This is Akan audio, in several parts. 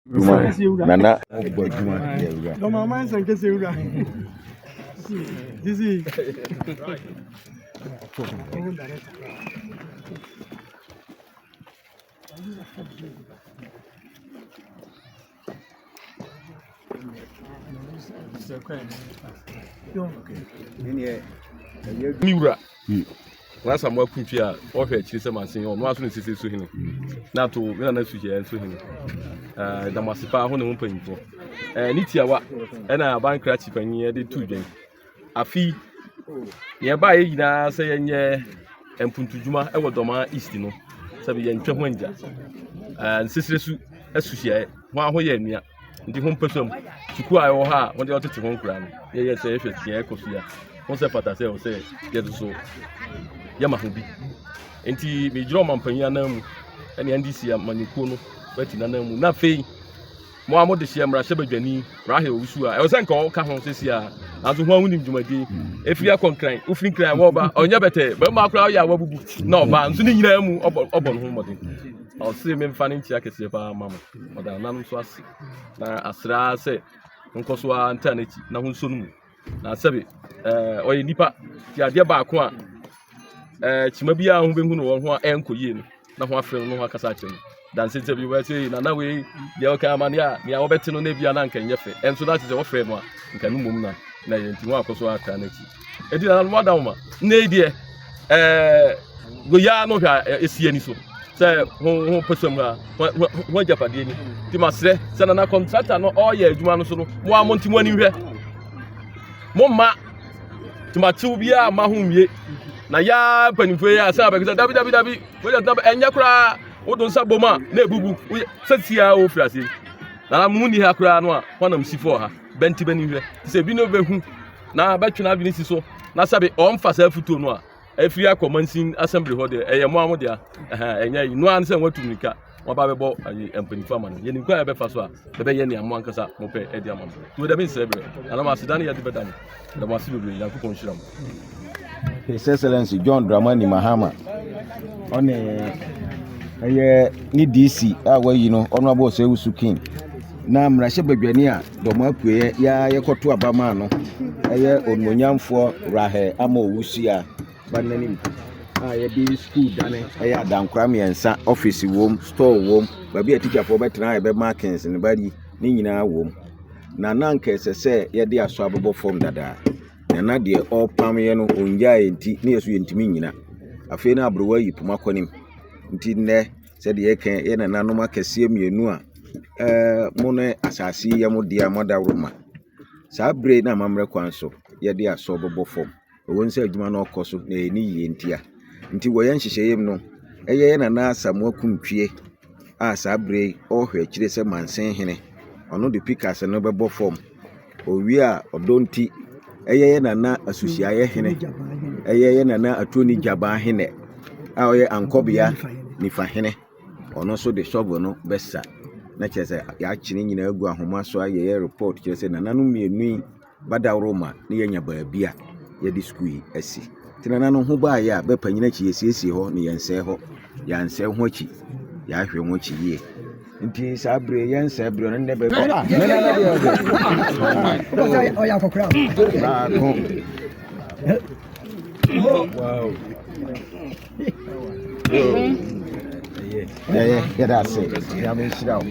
Nana ɔbɔ adwuma yɛ wura. Dɔm ama nsan kɛse wura. Dizzy. Ni wura. N'asamoah Kutwi a ɔhwɛ akyiri sɛ masen yi, ɔno ara nso na ɛsisi so hene. Na ato me nana Suhyɛ nso hene. Ɛɛ, ɛda mo ase paa ho ne ho mpanyimfoɔ. Ɛɛ, ne tiawa ɛna aban krakye panyin ɛde tu dwan. Afi nea ɛbaeɛ nyinaa sɛ yɛnyɛ mpuntudwuma ɛwɔ Dɔmaa East no, sɛ yɛntwa ho angya. Ɛɛ, nsesrɛ su asuhyɛ ho ahoyɛ nua. nti ho mpɛ sɛm sukuu a ɛwɔ hɔ a wɔde ɔtete ho nkura no yɛyɛ sɛ yɛhwɛ sua ɛkɔ so a ho sɛ pata sɛ sɛ yɛde so yɛma ho bi nti megyina ɔma mpanyin anan mu ɛne ndc amanyɔkuo no bɛti nanan mu na afei mo a mode hyɛ mmarahyɛ badwani rahel wusu a ɛwɔ sɛ nka ɔka ho sɛsi a nanso ho a wonim dwumadi ɛfiri akɔ nkran wofiri nkran wɔba ɔnyɛ bɛtɛ bɛma koraa ɔyɛ a wabubu na ɔba nso ne nyinaa mu ɔbɔ no ho mmɔden ɔse memfa no nkyea kɛseɛ paa ma mo Ɔdaa nna no nso ase, na asrɛ ara sɛ ɔnkɔ so ara ntra n'akyi na ho nso no mu. Na sɛbe ɛɛ ɔyɛ nipa ti adeɛ baako a ɛɛ kyima biara ho bɛhu no wɔn ho a ɛnkɔ yie no na ho afrɛ no na ho akasa akyerɛ no danse sɛ bi wɔyɛ sɛ nana wei deɛ ɔka amaneɛ a nea wɔbɛte no na ebia na nka nyɛ fɛ ɛnso na te sɛ wɔfrɛ no a nka no mmom na na yɛn ti ho akɔ so atra n'akyi Enti nananom adaoma, nnɛ yi deɛ ɛɛ goyaa no hwɛ a esi ani so sɛ ho ho pɛsɛm no a ho ho ho agyapadeɛ ni. Nti masrɛ sɛ nana kɔntrakta no ɔreyɛ adwuma no so no mo a mo nti mo ani nhwɛ mo mma tomatew biara mma ho nwie na yaa mpanimfoɔ yi a sɛ abɛkɛ sɛ dabi dabi dabi wogya tena ɛnyɛ koraa wodo nsa bom a na ebubu woyɛ sɛ tia a wofiri aseɛ nana mo nni ha koraa no a hɔnam si fɔɔ ha. Bɛnte b'ani hwɛ, te sɛ ebinom behu na bɛtwe n'adwene si so, na sɛbe ɔmfa saa afotuo no a afiri akɔ mansin asɛmbli hɔ deɛ, ɛyɛ mmoa mo dea. Ɛhɛn, ɛnyɛ yi. Noa ne sɛ wɔatu mmirika, wɔaba bɛbɔ ayi mpanyinfo ama no. Yɛnim kwan a yɛbɛfa so a, yɛbɛyɛ nea mo ankasa mopɛ de ama mo. Nti wo deɛ mensɛe berɛ, anaa mo aseda ne yɛde bɛda mo. Ɛda mo ase bebree, Nyankopɔn nhyira mo. His Excellency John Dramani Mahama ɔne ɛyɛ ne DC a wayi no Honorable Osei-Usu King na mmarahyɛ badwani a dɔm apueɛ yɛa yɛkɔto aba maa no ɛyɛ onimonyamfoɔ Rahel Ama Owusia ba n'anim a yɛde sukuu dane ɛyɛ adankora mmiɛnsa ɔfisi wom store wom baabi a tikyafoɔ bɛtena a yɛbɛma kings no bari ne nyinaa wom na na anka ɛsɛ sɛ yɛde aso abobɔ fam dada na na deɛ ɔrepam yɛ no ɔngyaeɛ nti ne yɛ so yɛntumi nyina afei na aberewa yi poma kɔ nim nti nnɛ sɛdeɛ yɛka yɛ nananom akɛseɛ mmienu a ɛɛ mo ne asase yɛ mo deɛ a moadaworo ma saa bere na amammerɛ kwan so yɛde aso bobɔ fam Ɛwom sɛ adwuma no rekɔ so na ɛnni yiye ntia nti, wɔ yɛn nhyehyɛeɛm no, ɛyɛ yɛn Nana Asamoah Kuntwie a saa berɛ yi ɔrehwɛ akyire sɛ Mansin Hene. Ɔno de Pikas no bɛbɔ fam. Ɔwie a, ɔdɔ nti, ɛyɛ yɛn Nana Asusiaeɛ Hene, ɛyɛ yɛn Nana Atuoni Gyabaa Hene a ɔyɛ Ankɔbea Nifa Hene. Ɔno nso de shovel no bɛsa na kyerɛ sɛ yɛakye ne nyinaa agu ahoma so ayɛ yɛn report kyerɛ sɛ nananom mmienu yi badaworo ma na yɛanya baabi a yɛde sukuu yi asi. Nti nananom ho baeɛ a bɛpanyin akyi yɛsiesie hɔ na yɛnsɛe hɔ. Yɛansɛe ho akyi, yɛahwɛ ho akyi yie. Nti saa bere yɛnsɛe bere no nnɛ bɛbɛ. Ah, ne nana deɛ ɔdɛ. Ɔyɛ akɔkora. Baako. Wow. Yeah, yeah, yeah, that's it. Yeah, I'm in Shidao.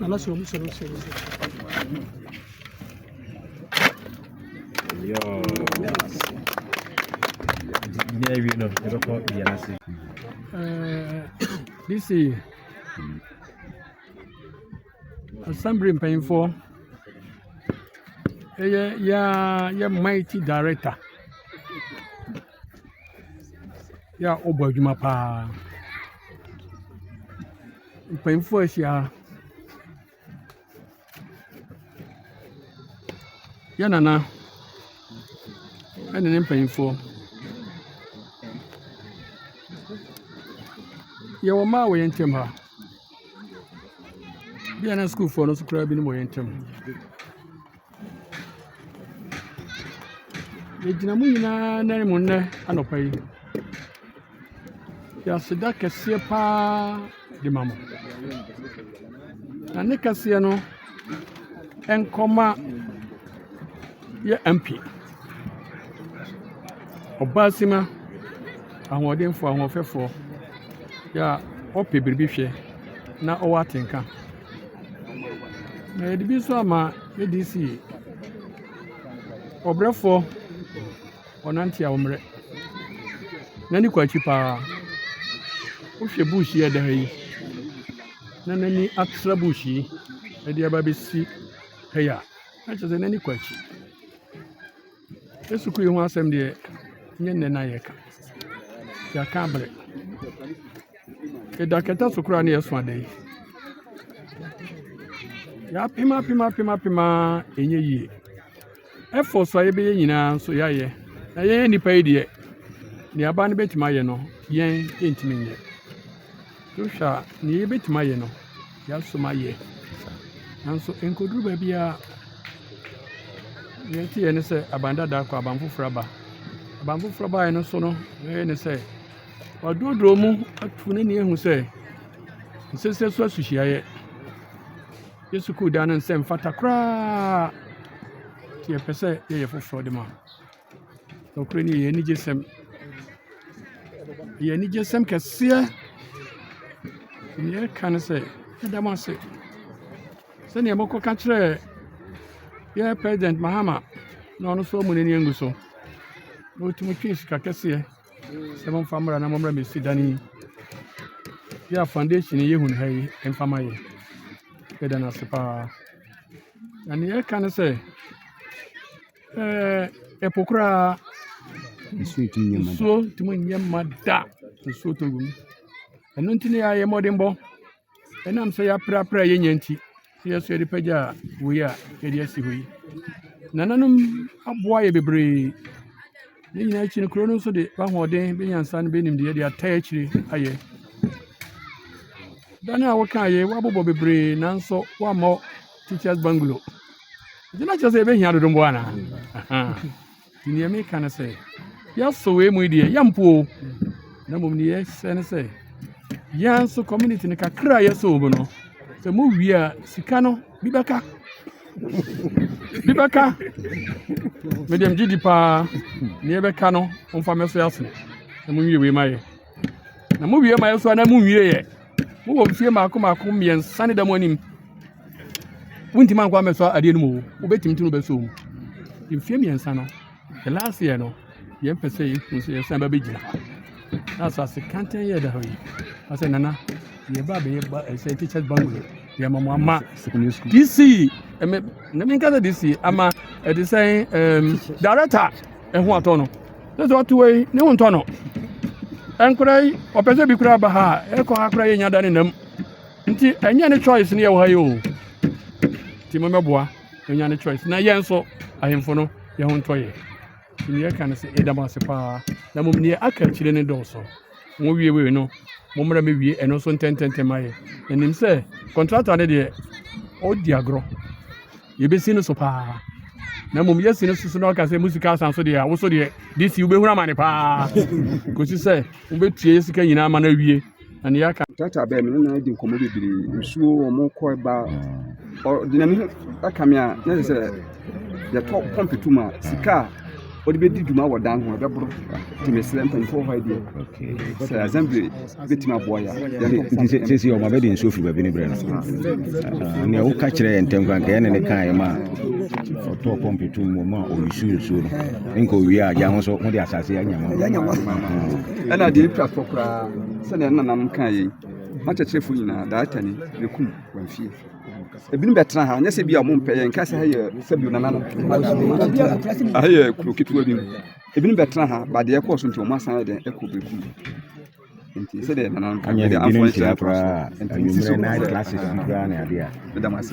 Nana sɔrɔ muso ni sɔrɔ muso. Yoo. Ne awie no yɛbɛkɔ yɛn ase. DC assembly mpanyinfoɔ ɛyɛ yɛa yɛ mighty director. Yɛ a wɔbɔ adwuma paa. Mpanyimfo ahyia ha. Yɛ Nana ne ne mpanyimfoɔ. Yɛwɔ mma wɔ yɛn ntam ha. Ebia na sukuufoɔ no nso koraa binom wɔ yɛn ntam. Yɛgyina mo nyinaa nan mu nnɛ anɔpa yi, de aseda kɛseɛ pa ara de ma mo. Na ne kɛseɛ no nkɔma yɛn MP, Ɔbaasima ahoɔdenfoɔ, ahoɔfɛfoɔ, a ɔpɛ biribi hwɛ na ɔwɔ atenka. Na yɛde bi nso ama ADC, ɔbrɛfoɔ ɔnante a ɔmmerɛ, n'ani kɔ akyi paa. Wohwɛ bush yi a ɛda ha yi, na n'ani atra bush yi de aba abɛsi ha yi a, na kyerɛ sɛ n'ani kɔ akyi. Sukuu yi ho asɛm deɛ, nyɛ nnɛ na yɛka, yɛaka abrɛ. Ɛda kɛtɛ so koraa na yɛso ada yi. Yɛapem apem apem apem a ɛnyɛ yie. Ɛfɔ so a yɛbɛyɛ nyinaa nso yɛayɛ. Na yɛyɛ nnipa yi deɛ, nea aba no bɛtumi ayɛ no, yɛn yɛntumi nyɛ. Wohwɛ a, nea yebetumi ayɛ no, yɛasom ayɛ. Nanso enkoduru baabi a nea ɛte yɛn ne sɛ aban dada akɔ, aban foforo aba. Aban foforo baeɛ no so no, nea ɛyɛ ne sɛ waduroduro mu atu ne nea ehu sɛ nsese so asuhyiayɛ. Yɛ sukuu dan no nsɛ mfata koraa. Nti yɛpɛ sɛ yɛyɛ foforɔ de ma. Nokorɛ no yɛ anigyesɛm. Ɛyɛ anigyesɛm kɛseɛ. Nea ɛka ne sɛ, yɛda mo ase sɛdeɛ mokɔka kyerɛɛ yɛn President Mahama na ɔno nso amu n'ani angu so na ɔtumi twee sika kɛseɛ sɛ momfa mmra na mommra mmɛsi dan yi yɛ a foundation yi yɛhunu ha yi mfa ma yɛ. Yɛda no ase paa. Na nea ɛka ne sɛ, Ɛɛ po koraa nsuo ntumi nyɛ ma da nsuo ntumi nyɛ ma da nsuo tɔ wim ɛno nti na yɛayɛ mmɔdenbɔ ɛnam sɛ yɛaprapra yɛnya nti sɛ yɛsɛ yɛde pɛgya wei a yɛde asi hɔ yi nananom aboa yɛ bebree ne nyinaa akyi no kuro no nso de bahoɔden bɛnyansa no bɛnimdeɛ de ata akyire ayɛ dan a wokaeɛ woabobɔ bebree nanso woammɔ teachers bungalow nti na kyerɛ sɛ yɛbɛhia dodombɔ anaa nti neɛ meka no sɛ yɛsɔ wei mu deɛ yɛmpoo na mmom ne yɛsɛ no sɛ yɛn nso community no kakra a yɛsɔ wɔ mu no sɛ mowie a sika no bi bɛka bi bɛka mede mgye di paa ne yɛbɛka no momfa mɛso asene na monwie wei ma yɛ Na mo wie ma nso anaa mo nwie yɛ mo wɔ mfie mako mako mmiɛnsa ne da mo anim wontumi ankɔ amɛsɔ adeɛ no mu o wobɛtumi tumi bɛsɔ mu mfie mmiɛnsa no the last year no yɛn pɛ sɛ yɛhu sɛ yɛsan ba bɛgyina na asase kantan yɛ da hɔ yi asɛ nana yɛba bɛyɛ ba ɛsɛ teachers bungalow yɛma mo ama dc ɛmɛ ne menka sɛ dc ama ɛde sɛn director ɛho atɔ no Sɛ sɛ ɔte hɔ yi, ne ho ntɔ no. Ɛnkora yi, ɔpɛ sɛ bi koraa ba ha a, ɛkɔ ha koraa yɛnya da ne nam. Nti ɛnyɛ ne choice ne yɛwɔ ha yi o. Nti mommɛboa ɔnya ne choice. Na yɛn nso, ahemfo no, yɛn ho ntɔ yɛ. Nti ne yɛka no sɛ yɛda mo ase paa. Na mmom neɛ aka akyire no dɔɔso. Mowie wei no, mommra mɛwie ɛno nso ntɛntɛntɛm ayɛ. Na nim sɛ kɔntrata no deɛ, ɔdi agorɔ. Yɛbɛsi no so paa. Na mmom yɛsi no so na ɔka sɛ mo sika asan so deɛ a wo so deɛ de si wobɛhunu amane paa kɔsi sɛ wobɛtua yɛ sika nyinaa ma no awie na neɛ aka Tata bɛɛ me ne no adi nkɔmmɔ bebree nsuo wɔn kɔ ba ɔde n'ani aka me a na sɛ yɛtɔ pɔmpe tum a sika a wɔde bɛdi dwuma wɔ dan ho ɛbɛboro nti mesrɛ mpanimfoɔ hɔ deɛ sɛ assembly bɛtumi aboa yɛ sɛsi ɔma bɛde nsuo firi baabi ne berɛ no nea woka kyerɛ yɛ ntɛm kora nkɛyɛ ne ne kaeɛ ma ɔtɔɔ pɔmpe to mu ma ɔnsu nsuo no nka owie a gya ho so mode asase anyama ɛna deɛ ɛpira fɔ koraa sɛdeɛ nanam kaa yei makyɛkyerɛfoɔ nyinaa daatani bɛkum wamfie ebinom bɛtena ha nyɛ sɛ bi a ɔmo mpɛ yɛn kasa ha yɛ sɛbi nananom ha yɛ kuro ketewa bi mu ebinom bɛtena ha ba deɛ ɛkɔɔ so nti ɔmo asan yɛ dɛn ɛkɔ bɛku nti sɛdeɛ nananom kan yɛ dɛn afɔ nhyɛ koraa nti sisi so ɛdam ase